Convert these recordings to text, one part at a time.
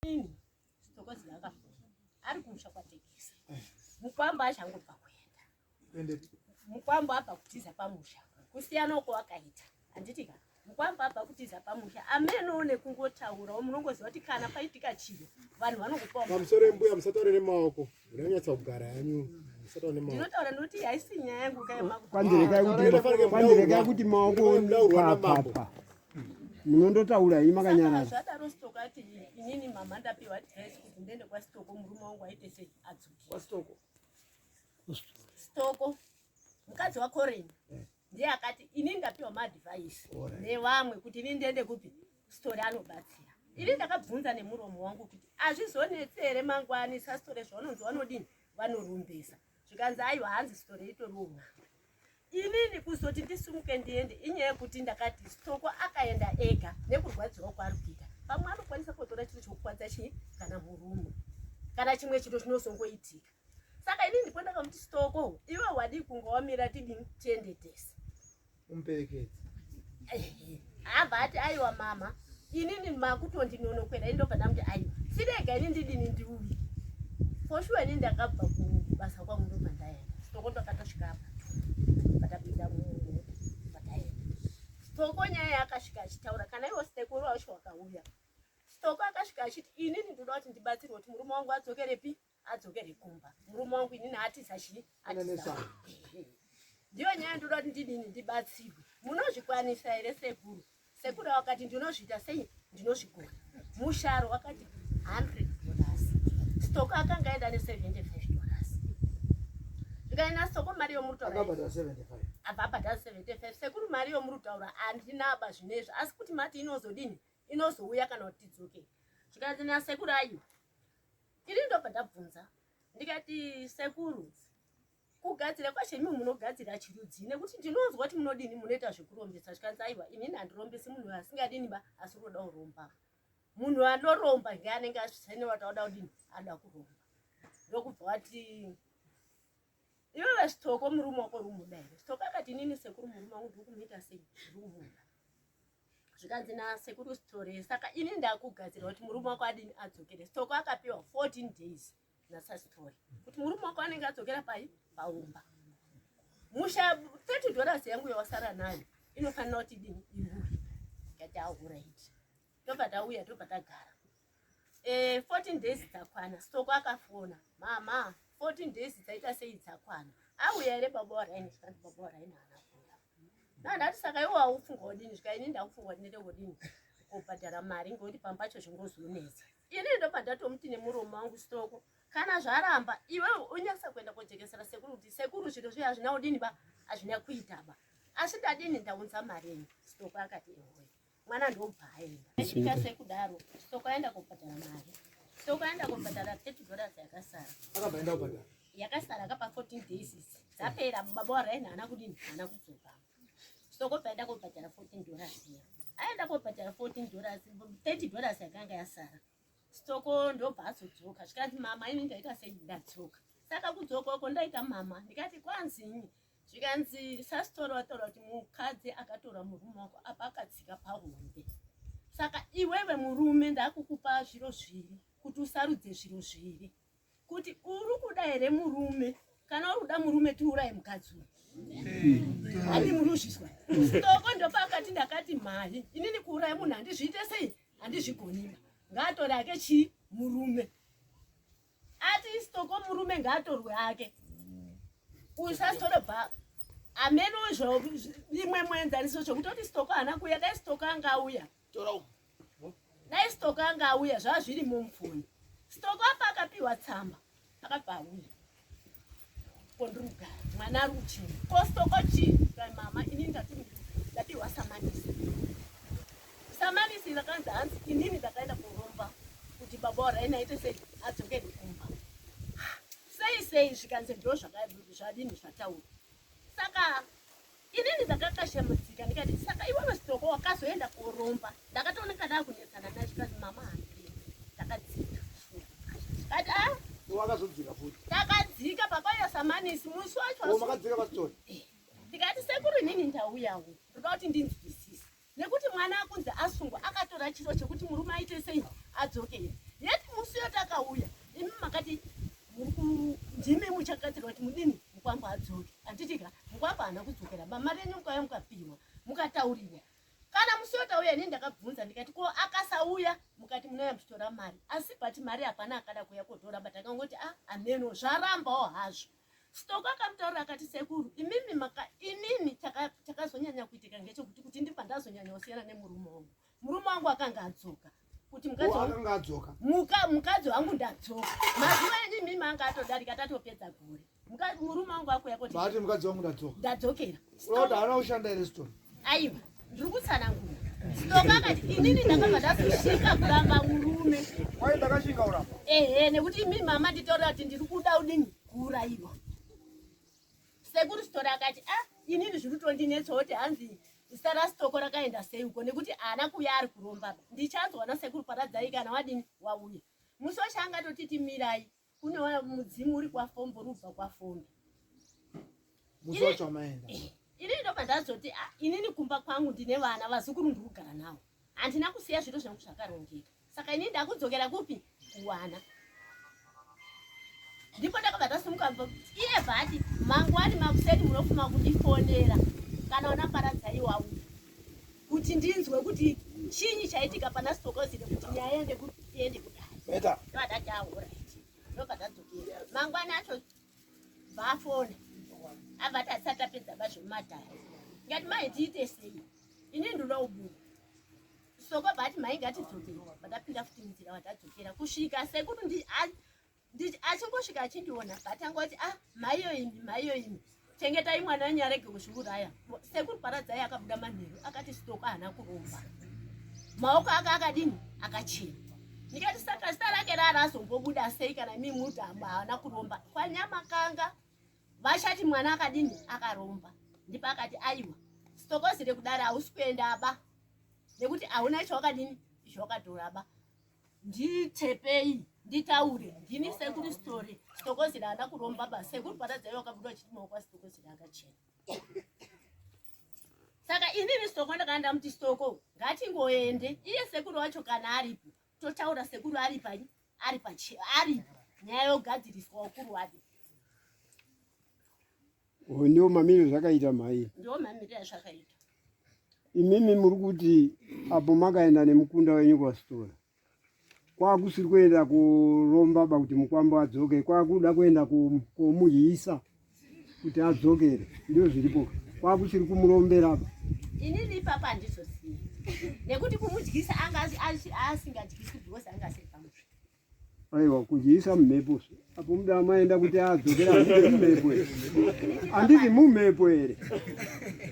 Ini sitokozi laka ari kumusha kwa tekisi. Mukwambo achango pa kuenda. Ende mukwambo apa kutiza pamusha. Kusiyana uko wakaita. Anditi ka mukwambo apa kutiza pamusha. Amene one kungotaura munongoziva kuti kana paitika chiro vanhu vanokupa. Pamusoro mbuya musatore nemaoko. Unonyatsa kugara yanyu. Ndinotaura noti haisi nyaya yangu kai makuti. Kwandirekai kuti kwandirekai kuti maoko papa. Munondotaura hii makanyarara. Zvadaro stoko ati inini mama ndapiwa dress kuti ndende kwa stoko murume wangu aite sei adzoke. Kwa stoko. Stoko. Mukadzi wa Corin. Ndiye akati inini ndapiwa ma advice nevamwe kuti inini ndende kupi sitore anobatsira ini ndakabvunza nemuromo wangu kuti hazvizonetse here mangwani sasitore zvaunonzi vanodini vanorumbesa zvikanzi aiwa hanzi sitore itoriwo mwana inini kuzoti ndisumuke ndiende inyaya yekuti ndakati sitoko akaenda ega nekurwadziwa kwaari kuita pamwe anokwanisa kutora chinhu chokukwadza chii kana murume kana chimwe chinhu chinozongoitika saka ini ndipo ndakamuti stoko iwe wadii kunga wamira tidini tiende tese Umperekedze. Abva ati aiwa mama. Inini makutondinonokwera indobva ndamuti aiwa. Sirega ini ndidini ndiuye. For sure ini ndakabva kubasa kwangu ndobva ndaenda. Sitoko ndakatosvika apa. Patapinda munhu. Pataenda. Sitoko nyaya yakasvika achitaura kana iwo siteko wacho wakauya. Sitoko akasvika achiti inini ndoda kuti ndibatsirwe kuti murume wangu adzokerepi. adzokere kumba murume wangu inini atiza chii atiza ndiyo nyaya ndoda kuti ndidini ndibatsirwe munozvikwanisa here sekuru sekuru wakati ndinozviita sei ndinozvigona musharo wakati 100 dollars stock akanga aenda ne 75 dollars ndikaenda stock mari yomurutaura ababhadha 75 sekuru mari yomurutaura andinaba zvinezvi asi kuti mati inozodini inozouya kana kuti tidzoke zvikanzi nasekuru ayiwa ini ndobva ndabvunza ndikati sekuru kugadzira kwacho imi munogadzira chirudzii nekuti ndinonzwa kuti munodini munoita zvekurombesa zvikanzi aiwa inini handirombesi munhu asingadini ba asi unoda kuromba munhu anoromba ngeanenge asvisane wataoda kudini ada kuromba ndokubva wati Iwewe Stoko murume wako uri kumuda here? Stoko akati inini sekuru murume wangu ndiri kumuita sei? Ndiri kumuda. Zvikanzi nasekuru Sitore saka ini ndakugadzirira kuti murume wako adini adzokere. Stoko akapiwa 14 days nasaSitore kuti murume wako anenge adzokera pai? Paumba. Musha 30 dollars yangu yawasara nayo inofanira kuti dini ihure. Ikati ahura iti. tobva tauya tobva tagara e, 14 days dzakwana stoko akafona mama 14 days dzaita sei dzakwana auya ere baba waraini zvikanzi baba waraini haana kuuya nandati saka iwo aufunga odini zvika ini ndakufunga kuti ndete kudini kubhadhara mari ngokuti pambacho zvingozonetsa ini ndobva ndatomuti nemurume wangu stoko kana zvaramba iwe unyasa kuenda kojekesera sekuru kuti sekuru zviro zviya hazvina udini ba hazvina kuita ba asi ndadini ndaunza mari enyu stoko akati ehoyo mwana ndobva aenda achiita sekudaro sokaenda kobhadhara mari sokaenda kobhadhara thirty dollars yakasara akabvaenda kubhadhara yakasara kapa fourteen days dzapera baba waraini haana kudini haana kudzoka sokobvaenda kobhadhara fourteen dollars iya aenda kobhadhara fourteen dollars thirty dollars yakanga yasara Stoko ndobva azodzoka zvikanzi mama ini ndaita sei ndadzoka saka kudzoka uko ndaita mama ndikati kwanzinyi zvikanzi sasitoro wataura kuti mukadzi akatora murume wako apa akatsika pahombe saka iwewe murume ndakukupa zviro zviri kuti usarudze zviro zviri kuti uri kuda here murume kana uri kuda murume tiuraye mukadzi uyu handi muruzvizwa stoko ndopakati ndakati mhani inini kuuraya munhu handizviite sei handizvigonima ngaatore ake chii murume ati stoko murume ngaatorwe ake usasitore bha ameno zvo imwe muenzaniso zvokutoti stoko haana kuuya dai stoko anga auya tora umu dai stoko anga auya zvazviri mumfoni stoko apa akapiwa tsamba akabva auya kondrugara mwana ari kuchina ko stoko chii rai mama inini ndati ndapiwa samanisi samanisi rakanzi hanzi inini ndakaenda kuromba kuti baba waraini aite sei adzokeri kumba sei sei zvikanzi ndo zvakadini zvataura saka Inini ndakakashamudzika ndikati saka iwe wesitoko wakazoenda koromba. Ndakatooneka ndakunetsana naye zvikazi mama handi. Takadzika. Kati ah. Wakazodzika futi. Takadzika papa yasamanisi musi wacho. Makadzika pasitori. Ndikati sekuru inini ndauyawo. Ndikuda kuti ndinzwisise. nekuti mwana akunzi asungwa akatora chiro chekuti murume aite sei adzoke here yet musi yo takauya imi makati ndimi muchagadzirwa kuti mudini mukwambo adzoke handitika mukwambo haana kudzokera bama renyu mukauya mukapihwa mukataurirwa kana musi yo tauya ini ndakabvunza ndikati ko akasauya mukati munouya muchitora mari asi but mari hapana akada kuuya kotora but akangoti a ah, hameno zvarambawo hazvo Sitoko akamutaurira akati sekuru imimi maka inini chakazonyanya kuitika ngechekuti kuti ndibva ndazonyanya kusiyana nemurume wangu murume wangu akanga adzoka kuti mukadzi wangu adzoka muka mukadzi wangu ndadzoka mazuva enyu imimi anga atodarika tatopedza gore murume wangu akuya kuti mukadzi wangu ndadzoka ndadzokera Unoda hana ushanda here story? Aiwa, ndiri kutsanangura. Story akati inini ndakabva ndazoshinga kuramba murume. Wai ndakashinga kuramba? Ehe, nekuti imi mama nditaura kuti ndiri kuda udini kuuraiwa. Sekuru story akati ah inini zviri kutondinetsa kuti hanzi zita rasitoko rakaenda sei uko nekuti haana kuuya ari kuromba ndichanzwa nasekuru paradzai kana wadini wauya musi weshe angatotiti mirai Kune wa mudzimu uri kwa fombo rubva kwa fombo. Musocho maenda. Ini ndo pandazoti ah, inini kumba kwangu ndine vana vazukuru ndiri kugara nawo. Handina kusiya zviro zvangu zvakarongeka. Saka ini ndakudzokera kupi? Kuwana. Ndipo ndakabva tasimuka iye bhati mangwani makuseni munofuma kundifonera kana wanaparadzaiwawo. kuti ndinzwe kuti chinyi chaitika pana stokozine kuti nyaya yende kutiende kudai ndovadataura ndovadadzokera mangwana acho vafona avati asati apedza bazvemumadhara ngati mai tiite sei ini ndinoda kubuda soko vati mai ngatidzokere vadapinda futi munzira vadadzokera kusvika sekuti nditi achingosvika achindiona but anga kuti ah maiyo imi maiyo imi chengetai mwana wenyu arege kuzviuraya sekuru paradzai akabuda manheru akati sitoko haana kuromba maoko ake akadini akachena ndikati saka zita rake rari azombobuda sei kana mi muti haana kuromba kwanyamakanga vachati mwana akadini akaromba ndipo akati aiwa sitokozi rekudaro hausi kuenda ba nekuti hauna chawakadini chawakatoraba ndichepei nditaure ndini sekuru story sitokozira ana kuromba basi sekuru paradzai wakabuda vachiti maoko asitokozira akachena saka inini sitoko ndakana ndamuti sitoko ngatingoende iye sekuru wacho kana aripo totaura sekuru ari pai ari pachi ari nyaya yogadziriswa ukuru wake Oh, ndiwo mamiriro zvakaita mhai ndiwo mamiriro azvakaita imimi muri kuti apo makaenda nemukunda wenyu kwasitora kwakusiri kuenda kuromba ba kuti mukwambo adzoke kwakuda kuenda komuhisa kuti adzokere ndizvo zviripo kwakusiri kumurombera ba inini ipapa handizosiyi nekuti kumudyisa anga asingadyisi because anga asiri pamusvi Aiwa kujiisa mumhepo apo muda amaenda kuti adzokera kuti mumhepo here handiti mumhepo here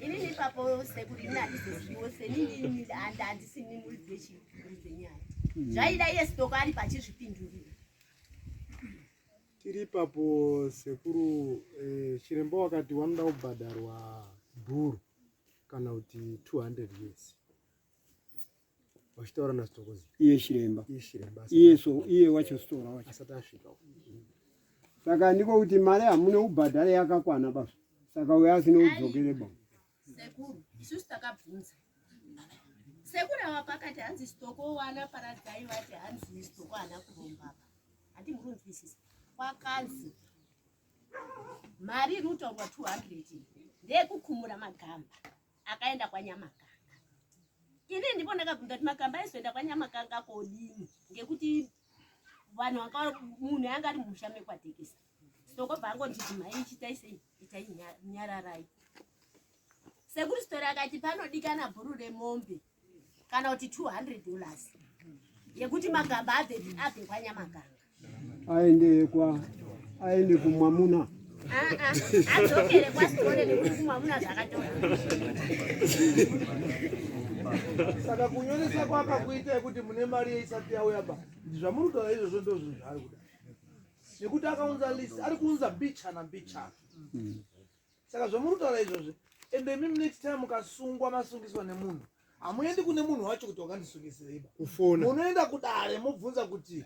inini ipapo sekuri ini handizoziviwo senini handisi ni muri dzechinyaya hmm. zvaida iye sitoko ari pachizvipindurira tiri ipapo sekuru eh, chiremba wakati wanoda kubhadharwa dhuru kana kuti 200 years vachitaura nasitokozi iye chiremba iye so iye wacho sitora wacho asati asvika saka ndiko kuti mari hamune ubhadhare yakakwana basa saka uya asine udzokere ba sekuru isusu takabvunza sekuru ava pakati hanzi sitoko wana paradzai vati hanzi sitoko hana kurombaba hati murunzwisisa kwakanzi mari iri kutaurwa 200 ndeyekukumura magamba akaenda kwanyamaka ini ndipo ndakabvunza kuti makamba aizoenda kwanyamakanga kodini ngekuti vanhu vaka munhu yanga ari musha mekwatekesa sitokobva angonditi mhai chitai sei itai nyararai sekuri sitori akati panodikana bhuru remombe kana kuti 200 dollars yekuti magamba abve abve kwanyamaganga aende kwa aende kumwamuna adzokere kwasitore nekuti kumwamuna zvakatora saka kunyoresa kwaka kuita yekuti mune mari yeisati yauya ba zvamuri kutaura izvozvo ndozvo zvaari kuda nekuti akaunza list ari kuunza bichana bichana mm. saka zvamuri kutaura izvozvi ende imimi next time mukasungwa masungiswa nemunhu hamuendi kune munhu wacho kuti wakandisungisiraiba kufona munoenda kudare mobvunza kuti